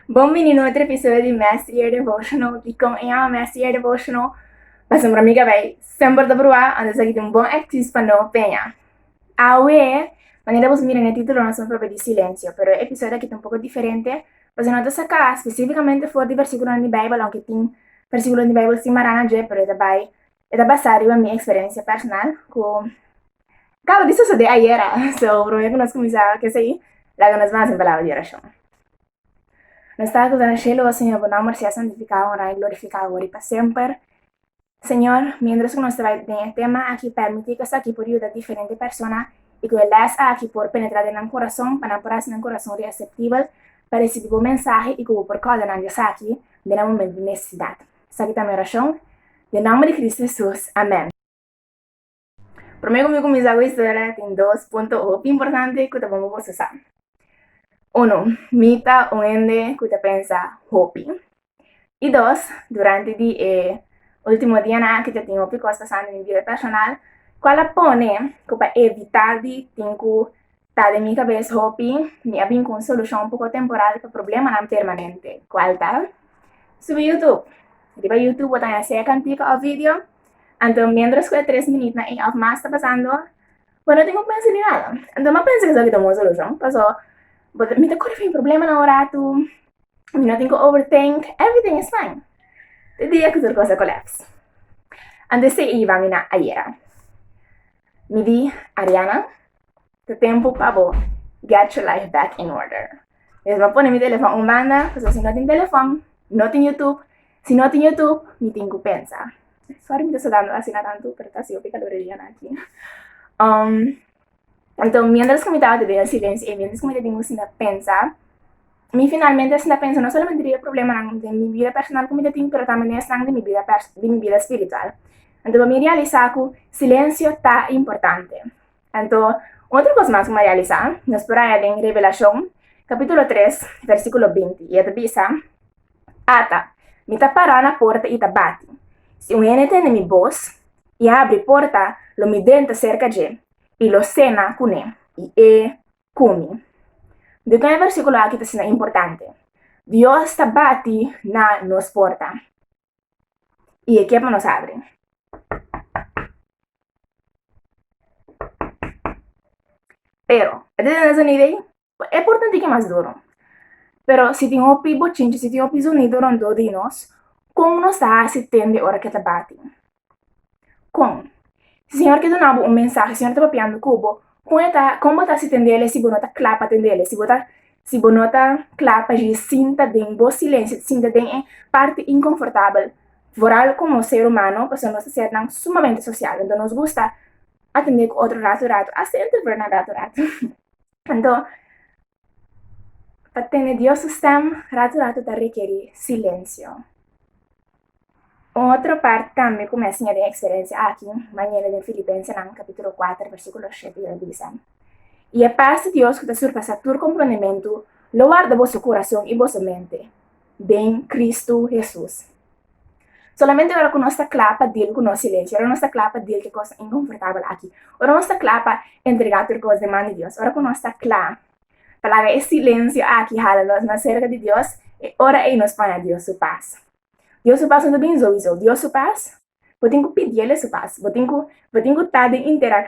Bon bini na otro episodio di Master Your Devotional y con e ama Master Your Devotional pasobra mi cabay semper ta proba anto esaki tin un bon excuus pa no peña. Awe, manera bos mira n'e titulo nos a proba di silencio, pero e episodio aki ta un poco diferente pasobra no ta saca specificamente for di versiculon di Bijbel aunke tin versiculon di Bijbel simarana dje pero e ta bay E ta basá riba mi eksperensia personal ku kaba di sosodé ayera. So, promé ku nos kuminsá ku esei, laga nos basa en palabra di orashon. Nos ta akusá na shelu, O Señor, Bo nòmber sea santifiká, onrá i glorifiká awor i pa semper. Señor, miéntras ku nos ta bai den e tema aki, pèrmití ku esaki por yuda diferente persona i ku e lès aki por penetrá den nan kurason pa nan por hasi nan kurason reaseptibel pa resibí Bo mensahe i ku Bo por kòrda nan di esaki den e momentu di nesesidat. Esaki ta mi orashon, den nomber di Cristo Hesus, amèn. Promé ku mi kuminsá ku historia tin dos punto hopi importante ku ta bon pa boso sa. Uno, mi ta un hende ku ta pensa hopi. I dos, durante di e último dianan aki ta tin hopi kos pasá na mi bida personal ku a la pone ku pa evitá di tin ku Ta den mi kabes hopi, mi a bin ku un solushon poko temporal pa problemanan permanente. Kual ta? Subi Youtube. Riba Youtube bo ta haña sea kantika òf video, anto méndros ku e tres minit na e òf mas ta pasando bo no tin ku pensa di nada. Anto mi a pensa ku esaki ta un bon solushon, paso bo ta mi ta kore fin problemanan un ratu, mi no tin ku overthink, everything is fine. Te dia ku tur kos a collapse. Anto esei i yiba mi na ayera. Mi di Ariana, ta tempu pa bo get your life back in order. Pues bo pone mi telefon un banda, pasobra si no tin telefon, no tin YouTube. Si no tin YouTube, mi tin ku pensa. Sorry mi ta sudando asina tantu, pero ta hasi hopi kalor e dianan aki. Um, anto mientras ku mi tabata den el silencio, e mientras ku mi tabata den bocina pensa, Mi finalmente asina pensa, no solamente riba e problemanan den mi bida personal ku mi ta tin, pero tambe den esnan di mi bida di mi bida spiritual. Anto pa mi realisá ku silensio ta importante. Anto otro kos mas ku mi a realisá, nos por haya den Revelashon kapítulo tres versíkulo binti i e ta bisa, Ata, mi ta pará na porta i ta bati. Si un hende tende mi bos i a abri porta, lo mi denta serka dje i lo sena kuné, i e Kumi? Di kon e versíkulo aki ta asina importante? Dios ta bati na nos porta i e kier pa nos abri. Pero, e ta den e zonido ei? E porta tin ki mas duru. Pero si tin hopi bochinchi, si tin hopi zonido rondó di nos, kon nos ta hasi tende ora ke ta bati? Kon? Si Señor ke duna bo un mensahe, Señor ta papiando ku bo, kon e ta, kon bo ta hasi tendele si bo no ta kla pa tendele, si bo ta, si bo no ta kla pa dje sinta den bo silencio, sinta den e parti inkonfortabel? Vooral komo ser humano, pasobra nos ta sernan sumamente sosial, anto nos gusta atende ku otro ratu ratu, hasta entre bernan ratu ratu. Anto. Pa tene Dios su stem ratu ratu ta rekerí silensio. Un otro part tambe ku mi a siña den eksperensia aki manera den Filipensenan kapítulo kuater versíkulo shete i el a bisa, I e pas di Dios ku ta surpasá tur komprondementu lo warda boso kurason i boso mente den Kristu Hesus. Solamente ora ku nos ta kla pa dil ku nos silensia, ora nos ta kla pa dil ku e kos inkomfortabel aki, ora nos ta kla pa entregá tur kos den man di Dios, ora ku nos ta kla pa laga e silensio aki hala nos mas serka di Dios, e ora ei nos paña Dios su pas. Dios su pas no ta bini souizou. Dios su pas. Bo tin ku pidi el'e su pas. Bo tin ku, bo tin ku ta den interak,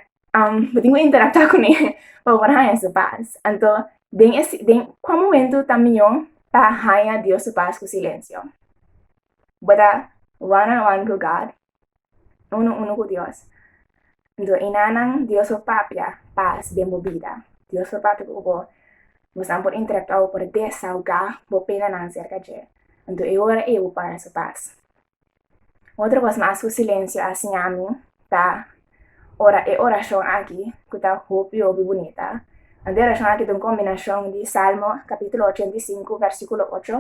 bo tin ku interaktá kuné pa por haña su pas. Anto, den e, den kua momentu ta mihó pa haña Dios su pas ku silensio? Bo ta one on one ku God, unu unu ku Dios. Anto, e nannan Dios lo papia pas den bo bida. Dios lo papia ku bo. Bosan por interaktá, bo por desaugá bo penanan serka dje. Anto, e ora ei bo por haña su pas. Otro kos mas ku silensio a siñami ta ora e orashon aki ku ta hopi hopi bunita. Ante e orashon aki ta un kombinashon di Salmo kapitulo ochenta i sinku vèrsikulo ocho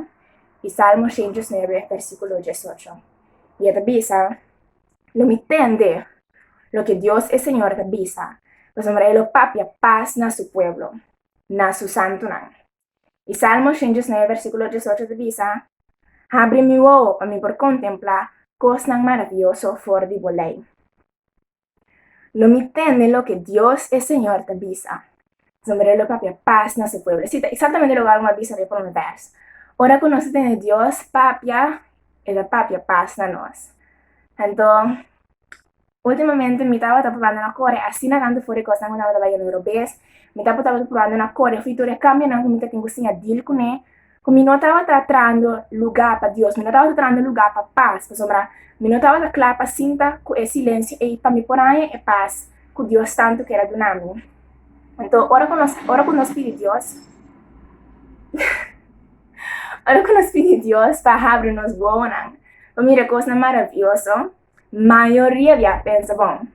i Salmo shentus nuebe vèrsikulo diesocho. I e ta bisa, Lo mi tende loke Dios e Señor ta bisa, pasobra e lo papia pas na su pueblo, na su santunan. E Salmo shen diesnueve versíkulo diesocho ta bisa, Habri mi wowo pa mi por kontemplá kosnan maravioso for di bo lei. Lo mi tende loke Dios e Señor ta bisa, pasobra e lo papia pas na su pueblo. Sí, ta eksaktamente loke alma a bisa riba e promé bèrs. Ora ku nos ta tende Dios papia, e ta papia pas na nos. Anto, Ultimamente mi tabata probando na kore asina tantu for e kosnan ku mi tabata bai e numero bes. Mi ta tabata probando na kore hopi tur e kambionan ku mi ta tin ku siña dil kuné, ku mi no tabata trahando lugá pa Dios, mi no tabata trahando lugá pa pas, pasobra mi no tabata kla pa sinta ku e silensio ei pa mi por haña e pas ku Dios tantu kier a duna mi. Anto ora ku nos ora ku nos pidi Dios ora ku nos pidi Dios pa habri nos bobonan pa mira e kosnan maravioso, Mayoria di a pensa bon,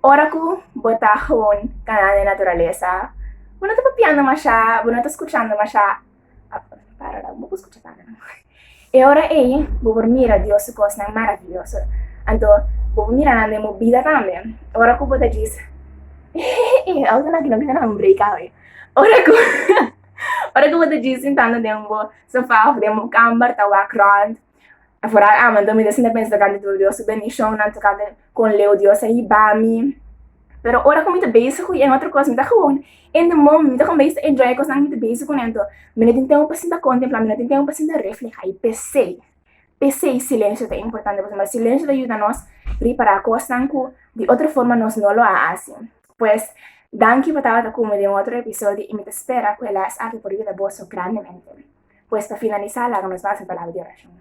ora ku bo ta hon kanando e naturalesa bo no ta papiando mashá, bo no ta skuchando mashá. Para la, bo por skucha sa nan. E ora ei bo por mira Dios su kosnan maraviyoso. Anto bo por mira nan den bo bida tambe. Ora ku bo ta djis, Hehehe, auto na kino bisa nan breka awe. Ora ku, ora ku bo ta djis sintando den bo sofá òf den bo kamber ta wak rònt. Afural ama, anto mi ta sinta pensa tocante tur Dios su bendicionnan, tocante con leu Dios a hiba mi. Pero ora cu mi ta bezig cu yen otro cos, mi ta gewoon in the moment, mi ta comenzá ta enjoy e cosnan cu mi ta bezig cun'e anto. Mi no tin tempo pa sinta contemplá, mi no tin tempo pa sinta reflehá i pesey, pesey silencio ta importante pasobra silencio ta yuda nos ripará cosnan cu di otro forma nos no lo a haci. Pues, danki pa tabata cu mi den otro episodio i mi ta spera cu e les aki por yuda boso grandemente. Pues pa finalisa laga nos basa e palabra di orashon.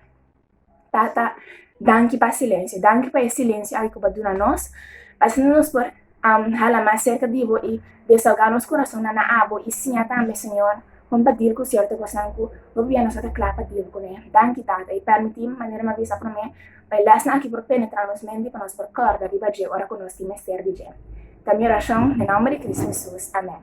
Tata, danki pa silencio, danki pa e silencio aki ku bo a duna nos, asina nos por um, hala mas serka di bo i desahoga nos kurasonnan na abo i siña tambe, Señor, kon pa dil ku sierto kosnan ku hopi bia nos no ta kla pa dil kuné. Danki, Tata, i permití manera mi a bisa promé, pa e lèsnan aki por penetrá nos mente i pa nos por kòrda riba dje ora ku nos tin mester di dje. Ta mi orashon den nomber di Cristo Hesus. Amèn.